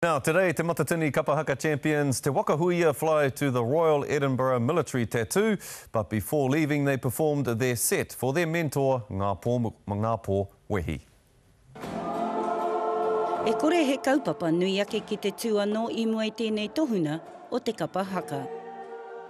Now today te Matatini Kapa Haka Champions Te Waka Huia fly to the Royal Edinburgh Military Tattoo but before leaving they performed their set for their mentor Ngā Pō Ngā Pō Wehi. E kore he kaupapa nui ake ki te tū anō i mua i tēnei tohunga o te kapa haka.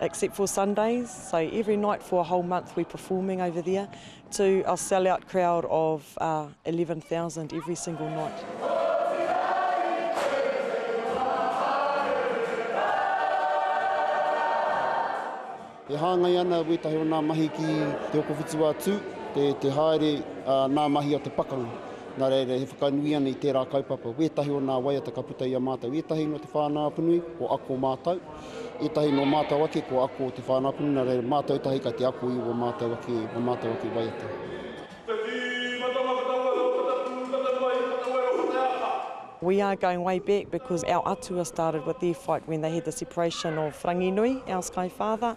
except for Sundays, so every night for a whole month we're performing over there to a sell-out crowd of uh, 11,000 every single night. E hāngai ana wētahi o nā mahi ki te okowhitu wā tū, te, te haere a nā mahi a te pakanga. Nā reira, he whakanui ana i tērā kaupapa. Wētahi o nā waiata ka puta i a mātou. Wētahi no te whānau apanui, o ako mātou. Etahi no matou ake kua ako o te whānau Kununare, matou etahi kai te ako i o matou ake, o matou ake waiata. We are going way back because our atua started with their fight when they had the separation of Ranginui, our sky father,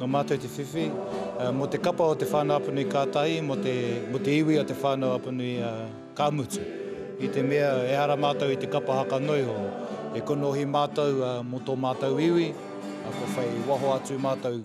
Nō mātou te whiwhi mō te kapa o Te Whānau-a-Panui ka tahi mō te iwi o Te Whānau-a-Panui ka mutu. I te mea ehara mātou i te kapa haka noiho, e konohi mātou mō tō mātou iwi, kua whai waho atu mātou.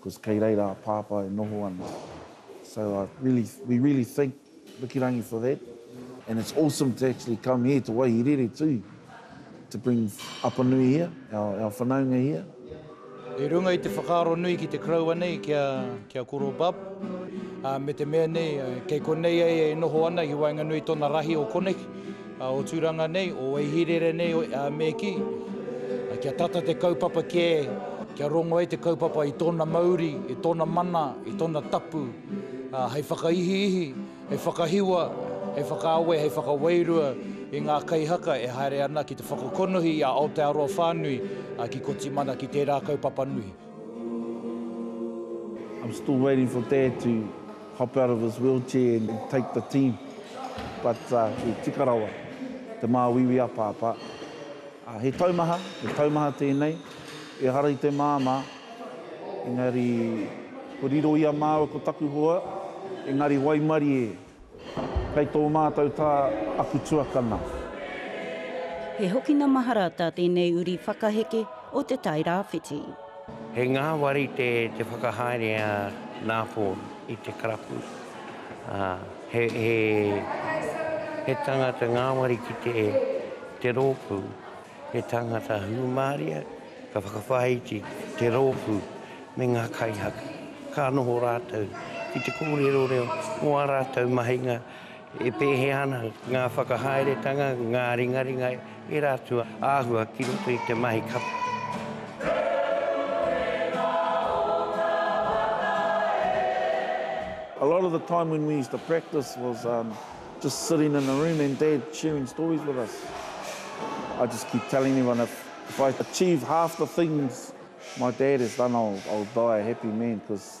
Cause kei reira a Pāpā e noho ana. So I really, we really thank Wikirangi for that and it's awesome to actually come here to Waihi Rere too to bring Apanui here, our, our whanaunga here. I runga i te whakaaro nui ki te koroua nei ki a, ki a Koro Bab, ā, me te mea nei, kei konei ai e noho ana i waenganui i tōna rahi o konei, O Turanga nei, o Ehirere nei, me kī, kia tata te kaupapa kē, kia rongo ai te kaupapa i tōna mauri, i tōna mana, i tōna tapu, hei whakaihiihi, hei whakahiwa, hei whakaawe, hei whakawairua i ngā kaihaka e haere ana ki te whakakonohi i a Aotearoa whānui, ki Kotimana, ki tērā kaupapa nui. hop out of his wheelchair and take the team but i tika rawa te māuiui a Pāpā. He taumaha, he taumaha tēnei, ehara i te māmā engari ko riro ia māua ko taku hoa engari waimarie kei tō mātou tā aku tuakana. He hokina mahara tā tēnei uri whakaheke o Te Tai Rāwhiti. He ngāwari te whakahaere a Nāpōn i te karapu. He tangata ngāwari ki te rōpū, he tangata hūmāria ka whakawhāiti te rōpū me ngā kaihaku. Ka noho rātou ki te kōrero reo mō ā rātou mahinga. E pēhea ana ngā whakahaeretanga, ngā ringaringa, ērā atu āhua ki roto i te mahi kapa? A lot of the time when we used to practice was just sitting in a room and dad sharing stories with us. I just keep telling everyone if if I achieve half the things my dad has done I'll I'll die a happy man because